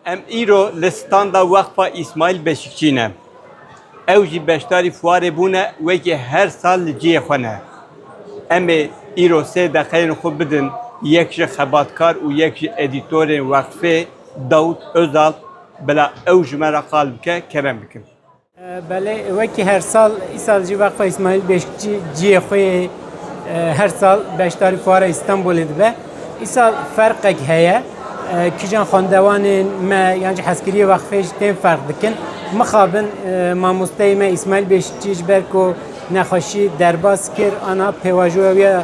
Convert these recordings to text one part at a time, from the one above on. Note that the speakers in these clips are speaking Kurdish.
Em îro li standa Weqfa Îsmaîl Beşikçî ne. Ew jî beşdarî fuarê bûne wekî her sal li cihê xwe ne. Em ê îro sê deqeyên xwe bidin yek ji xebatkar û yek ji edîtorên Weqfê Dawût Ozal bila ew ji me re qal bike kerem bikin. Belê wekî her sal îsal jî Waqfa Îsmaîl Beşikçî ciyê xwe yê her sal beşdarî Fuara Îstanbulê dibe. Îsal ferqek heye. Kîjan xwendewanên me yan jî heskiriyê wexfê jî tên ferq dikin. Mixabin mamosteyê me Îsmaîl Beşikçî ji ber ku nexweşî derbas kir ana pêvajoya wî ya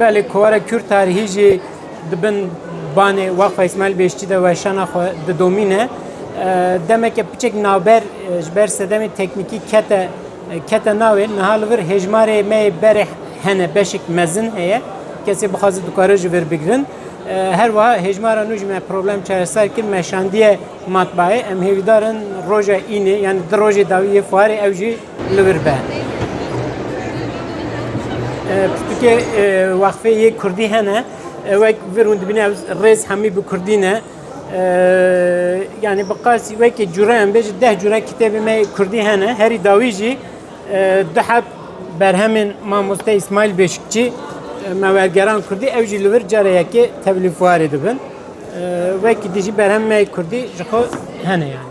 Belê kovara Kür tarihî jî di bin banê Waqfa Îsmaîl Bêştî de weşana xwe didomîne. Demeke piçek navber ji ber sedemê teknîkî kete kete navê niha li vir hêjmarê me yê berê hene beşek mezin heye. Kesê bixwaze dikare ji vir bigirin. Her wiha hêjmara nû ji me problem çareser kir me şandiye matbaê. Em hêvîdarin roja înê yan di rojê dawî yê fuarê ew jî Li vir be. Pirtûkê wexfê yê Kurdî hene wek vir hûn dibîne ev rêz hemî bi Kurdî ne. Yani bi qasî wekî cure em bêjî deh cure kitêbê me Kurdî hene. Herî dawî jî du heb berhemên mamoste İsmail Beşikçi me wergeran Kurdî ew jî li vir care yekê tevlî fuarê dibin. Wekî dijî berhem me Kurdî ji xwe hene yani.